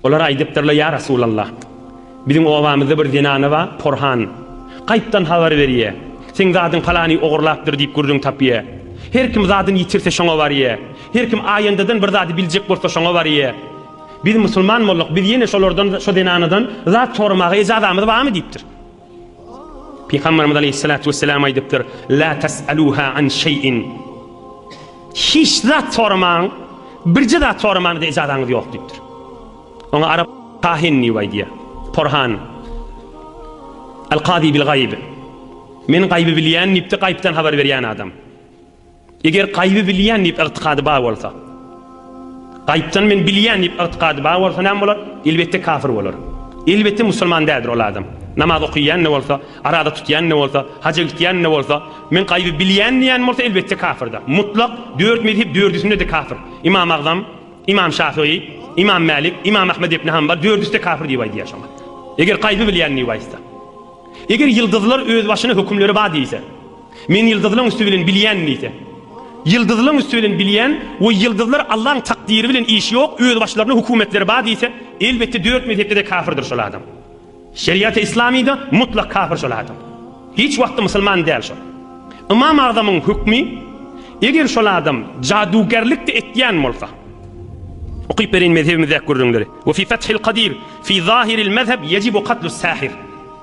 Olar aýdypdyrlar, Ýa Resulallah! Biziň obamyzda bir zenana bar, porhan. Gaýypdan habar berýä. Seň zadyň palany ogurlapdyr diýip gürrüň tapýa. Her kim zadyny ýitirse şoňa barýa. Her kim aýandadan bir zady biljek bolsa şoňa barýa. Biz musulman bolduk, biz ýene şolardan, şo zenanadan zat soramaga ejazamyz barmy? diýipdir. Pygamberimiz Aleyhissalatu vesselam aýdypdyr, La tes'aluha an şey'in. Hiç zat soramaň, birje zat soramaňda ijazanyz ýok diýipdir. Oňa arap kahin diýip aýdýar. Porhan. Al-Kazi bil gaýb. Men gaýby bilýän diýipdi, gaýypdan habar berýän adam. Eger gaýby bilýän diýip ygtykady bar bolsa, gaýypdan men bilýän diýip ygtykady bar bolsa näme bolar? Elbetde kafir bolar. Elbetde musulman däldir ol adam. Namaz okaýan-da bolsa, araza tutýan-da bolsa, haja gitýän-de bolsa, men gaýby bilýän diýen bolsa elbetde kafirdir. Mutlak dört mezhep dördüsinde-de kafir. Imam Agzam, Imam Şafygy, Imam Mälik, Imam Ahmet ibn Hanbal dördüsi-de kafir diýip aýdýar şoňa. Eger gaýby bilýän diýip aýtsa. Eger ýyldyzlar özbaşyna hökümleri bar diýse. Men ýyldyzlaň üsti bilen bilýän diýse. Ýyldyzlaň üsti bilen bilýän we ýyldyzlar Allaň takdyry bilen işi ýok, özbaşlaryna hökümetleri bar diýse, elbetde dört mezhepde-de kafirdir şol adam. Şeriaty Islamyda mutlak kafir şol adam. Hiç wagtda musulman däl şol. Ymam Agzamyň hökmi, eger şol adam jadugerlik-de etýän bolsa. Okyp bereýin mezhebimizdäki gürrüňleri. Ve fi Fethil Kadir fi zahiril mezheb yecibu katlus sahir.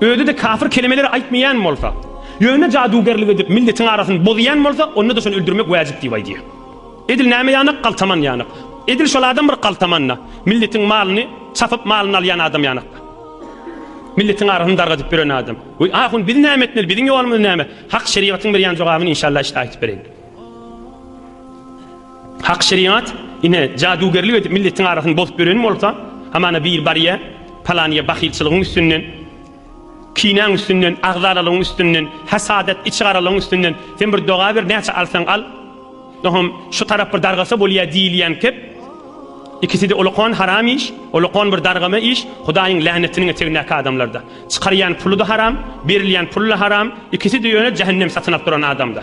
Özi-de kafir kelemeleri aýtmaýan bolsa, ýöne jadügerlik edip milletiň arasyny bozýan bolsa, onda-da şony öldürmek wäjip diýip aýdýar. Edil näme ýanak, galtaman ýanak. Edil şol adam bir galtaman-da, milletiň malyny çapyp, malyny alýan adam ýanak-da. Milletiň arasyny dargadyp ýören adam. Weý, ahun, biz näme etmeli, biziň ýolumyz näme? Hak şerigatyň berýän jogabyny inşallah işde aýtyp bereýin. Hak şerigat, ine, jadugerlik edip milletiň arasyny bozup ýören bolsa, hamana biri barýa, palanyýa bahylçylygyň üstünden, kinäň üstünden, agzalalygyň üstünden, hasadat, içigaralygyň üstünden, sen bir doga ber, näçe alsaň al, nohum, şu tarap bir dargasa bolýa diýilýän kep, ikisi-de ulkan haram iş, ulkan bir dargama iş, Hudaýyň länetiniň etegindäki adamlarda. Çykarýan puly-da haram, berilýän puly-da haram, ikisi-de ýöne jähennem satyn alyp duran adamda.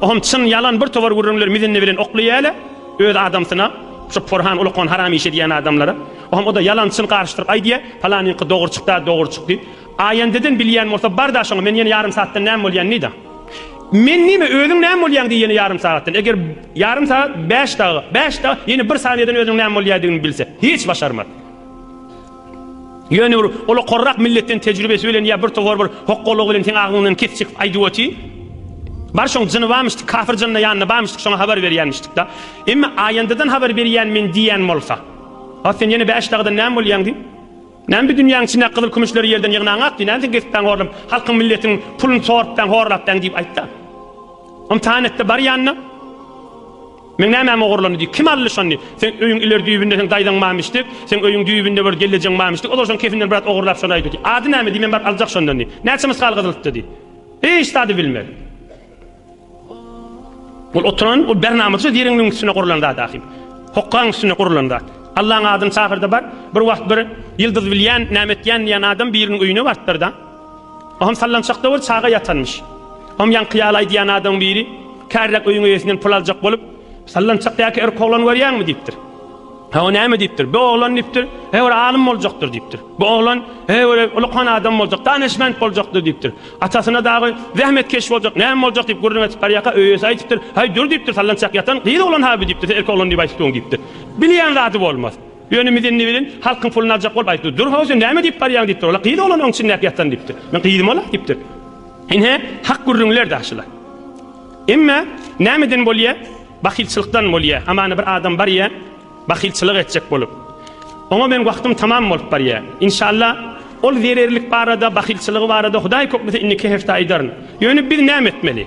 Ohm çyn ýalan bir towar gürrüňler mizindi bilen okly ýäle öz adamsyna şo porhan ulukan haram işi edýän adamlara ohm oda ýalan çyn garyşdyryp aýdýa palanyňky dogry çykda dogry çyk diýip aýendeden bilýän bolsa barda şoňa men ýene ýarym saatdan näme bolýan diýda men nime özüň näme bolýaň diýýene ýarym sagatdan eger ýarym saat bäş daga bäş daga ýene bir saniýeden özüň näme bolýadygyny bilse hiç başarmaz Ýöne bir ol okarrak milletden tejribesi bilen ýa bir towar bir hokgalygy bilen seň agyňdan kesjek aýdyp oty. Bar şoň jyny bamyşdyk kafir jynna ýanynda bamyşdyk şoňa habar berýänmişdikda. Emma aýandadan habar berýän men diýýän bolsa. A sen ýene bäş dagdan näme bolýaň diý. Näme bir dünýäň içindäki gyzyl kümüşleri ýerden ýygnaňak diý. Näme sen kesipbäň horlap halkyň milletiň pulun sorupbäň horlapbäň diýip aýtda. Ymtahan etde bar ýanyna. Meň nämäm ogurlandy diý. Kim aldy şony? Seň öýüň ileri düýbünde seň daýzaň barmyş diý. Seň öýüň düýbünde bir gelnejeň barmyş diý. Ozal şoň kefinden biraz ogurlap şony aýdy diý. Ady näme diý, men baryp aljak şondan diý. Näçe mysgal gyzylykda diý. Hiç zady bilmez. Ol oturan, ol bernamadyja deriniň üstüne gurulan zat ahim. Hokgaň üstüne gurulan zat. Allaň adyny çagyr-da bar. Bir wagt bir Ýyldyz bilýän, näme etýän diýen adam biriniň öýüne barpdyr-da. Oňam sallançak dowul çaga ýatanmyş. Oňam ýaňky ýalaý diýýän adamyň biri, Kärräk öýüň eýesinden pul aljak bolup, Sallançakdaky erk oglany görýäňmi? diýipdir. Hawa, näme diýipdir. Bu oglan diýipdir, he bir alym boljakdyr diýipdir. Bu oglan, he bir ulykan adam boljak, danyşment boljakdyr diýipdir. Atasyna dagy zähmetkeş boljak, näme boljak diýip gürrüň edip barýarka, öýesi aýdypdyr, Haý, dur diýipdir, sallançak ýatan gyz oglan-ha bu diýipdir, sen erk oglan diýip aýdypdygyň diýipdir. Bilýän zady bolmaz. Ýöne Mizen Niwilin halkyň puluny aljak bolup aýtdy. Dur, ho, sen näme diýip barýaň? diýipdir. Ola gyz oglan oň içindäki ýatan diýipdir. Men gyzym ola, diýipdir. Ine, hak gürrüňler daşylar. Emma nämeden bolýa? Bahylçylykdan bolýa. Hamana bir adam barýa, bahylçylyk etjek bolup. Oňa meniň wagtym tamam bolup barýa. Inşalla, ol zererlik barada, bahylçylygy barada Hudaý köplese indiki hepde aýdaryn. Ýöne biz näme etmeli?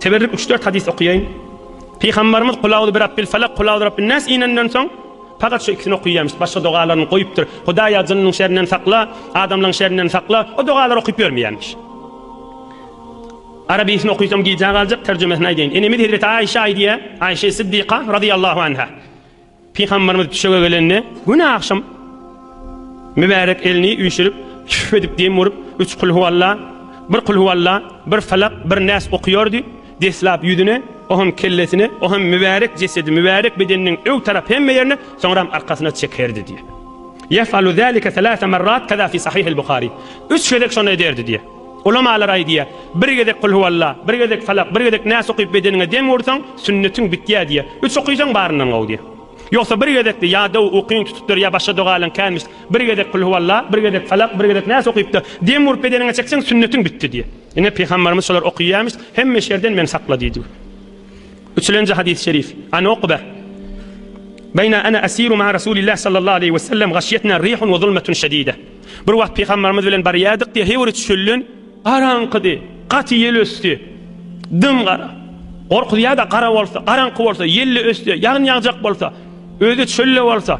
Teberrük Üç-dört hadys okaýaýyn. Pygambarymyz Kul auzu birabbil falak, Kul auzu birabbin nas inenden soň pagat şu ikisini okaýarmyş. Başga dogalaryny goýupdyr. Hudaýa jynnyň şerinden sakla, adamlaň şerinden sakla. O dogalary okyp ýörmeýärmiş. Arabysyn okysam gijä galjak, terjimesini aýdaýyn. Enemiz hezreti Aişa aýdýar, Aişe Siddiqa radyýallahu anha. Pygamberimiz düşege gelende, güni agşam mübärek elini üýşürip, küf edip dem urup, üç kul huwalla, bir kul huwalla, bir felak, bir näs okuýardy, deslap ýüzüne, oham kellesine, oham mübärek jesedi, mübärek bedeniniň ög tarap hemme ýerine, soňram arkasyna çekerdi diýýär. Ýef'alu zalike selase merrat keza fi sahih el-Buhari. Üç gezek şony ederdi diýýär. Ulamalar aýdýar, Bir gezek Kul huwalla, bir gezek Falak, bir gezek Nas okyp bedeniňe dem ursaň, sünnetiň bitýär diýýär. Üç okysaň baryndan gowy diýýär. Ýogsa bir gezekde ýa dow, ukyň tutupdyr, ýa başga dogalaň kämist, bir gezek Kul huwalla, bir gezek Falak, bir gezek Nas okyp-da, dem urup bedeniňe çekseň, sünnetiň bitdi diýýär. Ine, Pygamberimiz şolar okyýarmyş, hemme şerden meni sakla diýdi. Üçülenji hadys-y şerif, An Ukbe, Beýna ana asiru ma'a Rasulillah sallallahu aleýhi we sellem gaşyýetna rihun we zulmetun şedide. Bir wagt pygambarymyz bilen barýardyk diýýär, Hewr üç çölden garaňkydy, gaty ýel ösdi. Dym-gara. Gorkuzýar-da gara bolsa, garaňky bolsa, ýel-le ösdi, ýagyn ýagjak bolsa, özi çöl-le bolsa,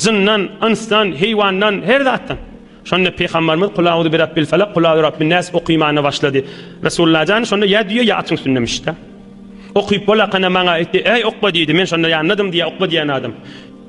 jyndan, ynsdan, heýwandan, her zatdan. Şonda pygambarymyz Kul auzu bi rabbil falak, Kul auzu bi rabbin nas okymana başlady. Resulullah jan şonda ýa düýe, ýa atyň üstünde mişda. Okyp bolakana maňa aýtdy, Äý Ukba diýdi, men şonda ýandadym diýýär Ukba diýýän adam.